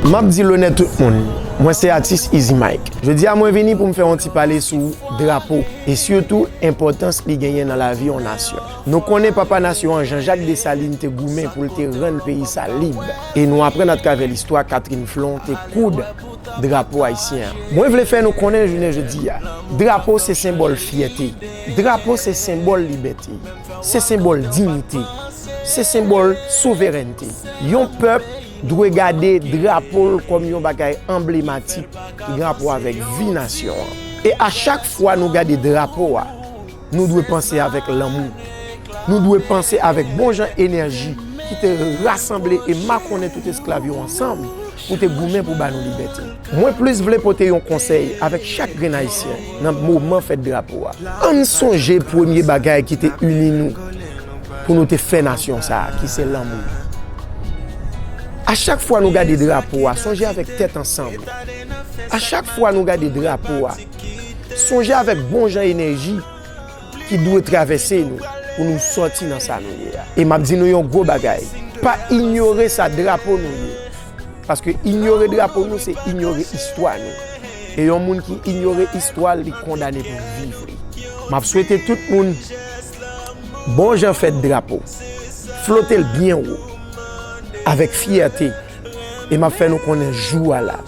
Map di lonè tout moun, mwen se atis Izi Mike. Jodi a mwen vini pou m fè yon ti pale sou drapo e sitou enpòtans li genyen nan lavi yon nasyon. Nou konnen papa nasyon an Jean Jacques Dessalines te goumen pou l te rann peyi sa lib. E nou aprann atravè listwa Catherine Flon te koud drapo ayisyen an. Mwen vle fè nou konnen jounen jodi a, drapo se senbòl fyète, drapo se senbòl libète, se senbòl dignite, se senbòl souverènte. Yon pèp dwe gade drapo l kòm yon bagay anblematik ki gen rapò avèk vi nasyon an. E a chak fwa nou gade drapo a, Nou dwe panse avèk lanmou. Nou dwe panse avèk bon jan enèji ki te rasanble e makonnen tout esklav yo ansanm pou te goumen pou ba nou libète. Mwen plis vle pote yon konsèy avèk chak grenn Ayisyen nan moman fèt drapo a. Ann sonje premye bagay ki te ini nou pou nou te fè nasyon sa a, ki se lanmou. A chak fwa nou gade drapo a, sonje avèk tèt ansanm. A chak fwa nou gade drapo a. Sonje avèk bon jan enèji ki dwe travèse nou pou nou sòti nan sa nou ye a. E m ap di nou yon gwo bagay, pa inyore sa drapo nou ye. Paske inyore drapo nou se inyore istwa nou. E yon moun ki inyore istwa l, li kondane pou viv li. M ap swete tout moun bon jan fèt drapo. Flote l byen wo avèk fyète e m ap fè nou konnen jou a la.